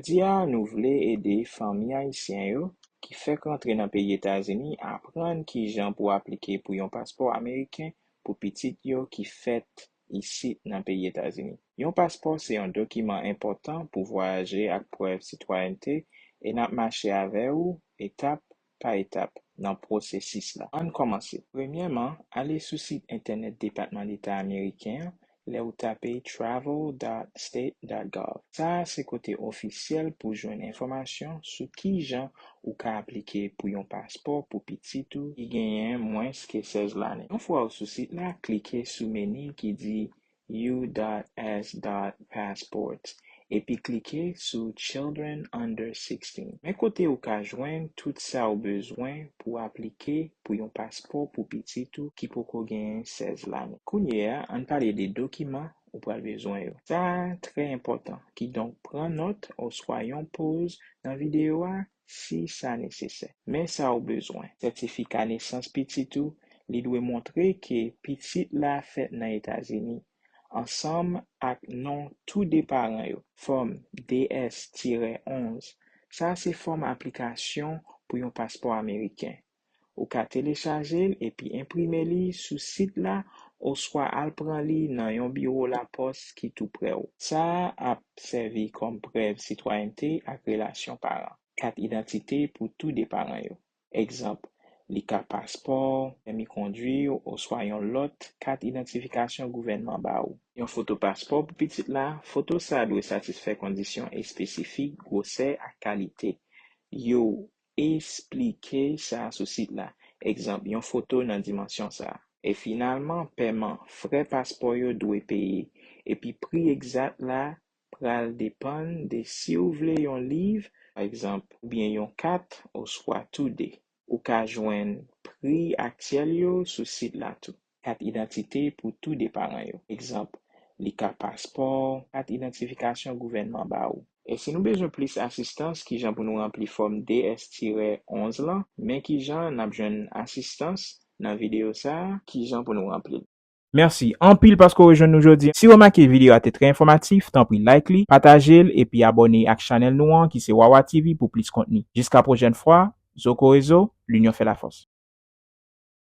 Jodi a, nou vle ede fanmi ayisyen yo ki fèk rantre nan peyi Etazini aprann kijan pou aplike pou yon paspò ameriken pou pitit yo ki fèt isit nan peyi Etazini. Yon paspò se yon dokiman enpòtan pou vwayaje ak prèv sitwayènte e n ap mache avè ou etap pa etap nan pwosesis la. Ann kòmanse. Premyèman, ale sou sit entènèt Depatman Deta Ameriken an lè ou tape travel dot state dot gov. Sa a se kote ofisyèl pou jwenn enfòmasyon sou kijan ou ka aplike pou yon paspò pou pitit ou ki genyen mwens ke 16 lane. Yon fwa ou sou sit la, klike sou meni ki di U.S.Passports epi klike sou Children Under 16. Men kote ou ka jwenn tout sa ou bezwen pou aplike pou yon paspò pou pitit ou ki poko genyen 16 lane. Kounye a, ann pale de dokiman ou pral bezwen yo. Sa a trè enpòtan, kidonk pran nòt oswa yon poz nan videyo a si sa nesesè. Men sa ou bezwen. Sètifika nesans pitit ou, li dwe montre ke pitit la fèt nan Etazini, ansanm ak non tou de paran yo. Fòm DS-11, Sa a se fòm aplikasyon pou yon paspò ameriken. Ou ka telechaje l epi enprime li sou sit la oswa al pran li nan yon biwo lapòs ki toupre w. Sa a ap sèvi kòm prèv sitwayènte ak relasyon paran. Kat idantite pou tou de paran yo. Egzanp, Li ka paspò, pèmi kondwi w oswa yon lòt kat idantifikasyon gouvènman ba ou. Yon foto paspò pou pitit la. Foto sa a dwe satisfè kondisyon espesifik gwosè ak kalite yo Esplike sa sou sit la, egzanp, yon foto nan dimansyon sa a. E finalman, peman, frè paspò yo dwe peye, epi pri egzat la pral depann de si ou vle yon liv, pa egzanp, oubyen yon kat, oswa toude. Ou ka jwenn pri aktyèl yo sou sit la tou. kat idantite pou tou de paran yo. Egzanp, li ka paspò, kat idantifikasyon gouvènman ba ou. E si nou bezwen plis asistans kijan pou nou ranpli fòm DS tirè 11 lan? Men kijan nap jwenn asistans nan videyo sa a. Kijan pou nou ranpli l. Mèsi anpil paske w rejwenn nou jodi. Si w remake videyo a te trè enfòmatif, tanpri like li, pataje l epi abòne ak chanèl nou an ki se Wawa TV pou plis kontni. Jiska pwojèn fwa, Zokorezo, Linyon fè lafòs.